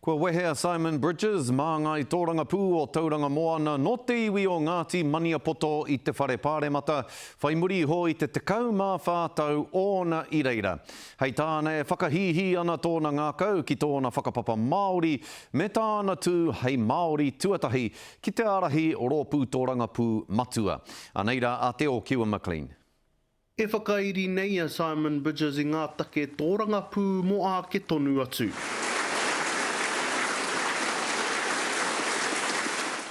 Kua wehe a Simon Bridges, māngai tōrangapū o Tauranga Moana nō te iwi o Ngāti Maniapoto i te Whare Pāremata, whai muri iho i te 14 tau ōna i reira. Hei tāna e whakahīhī ana tōna ngākau ki tōna whakapapa Māori me tāna tū hei Māori tuatahi ki te ārahi rōpū tōrangapū matua. Anei rā a Te Ōkiwa McLean. E whakairi nei a Simon Bridges i ngā take tōrangapū mō āke tonu atu.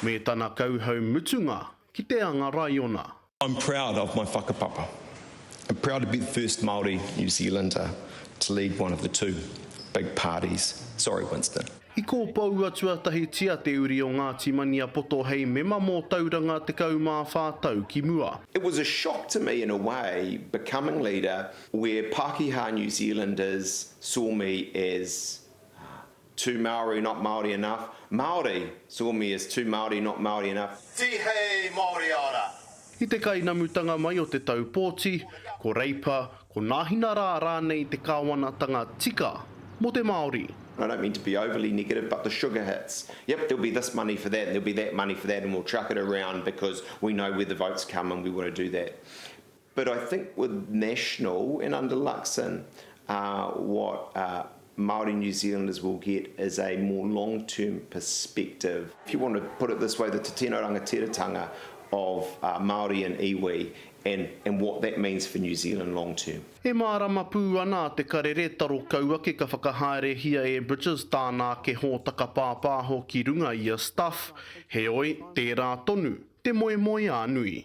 Me tana kauhau mutunga ki te anga raiona. I'm proud of my whakapapa. I'm proud to be the first Māori New Zealander to lead one of the two big parties. Sorry Winston. I kōpoua tuatahitia te uri o Ngāti Maniapoto hei mema mō Tauranga 14 tau ki mua. It was a shock to me in a way becoming leader where Pakeha New Zealanders saw me as too Maori not Maori enough, Maori saw me as too Maori not Maori enough. Tihei Maori ara, I te kainamutanga mai o te tau pōti, ko Reipa, ko Nāhinarā rānei te kāwanatanga tika mō te Māori. And I don't mean to be overly negative but the sugar hits, yep there'll be this money for that and there'll be that money for that and we'll chuck it around because we know where the votes come and we want to do that. But I think with National and under Luxon what Māori New Zealanders will get is a more long term perspective. If you want to put it this way, the te tino rangatiratanga of Māori and iwi and and what that means for New Zealand long term. E mārama pū ana a Te Karere taro kau ake ka whakahaerehia e Bridges tāna ake hōtaka pāpāho ki runga i a Stuff, heoi, tērā tonu, te moemoeā nui.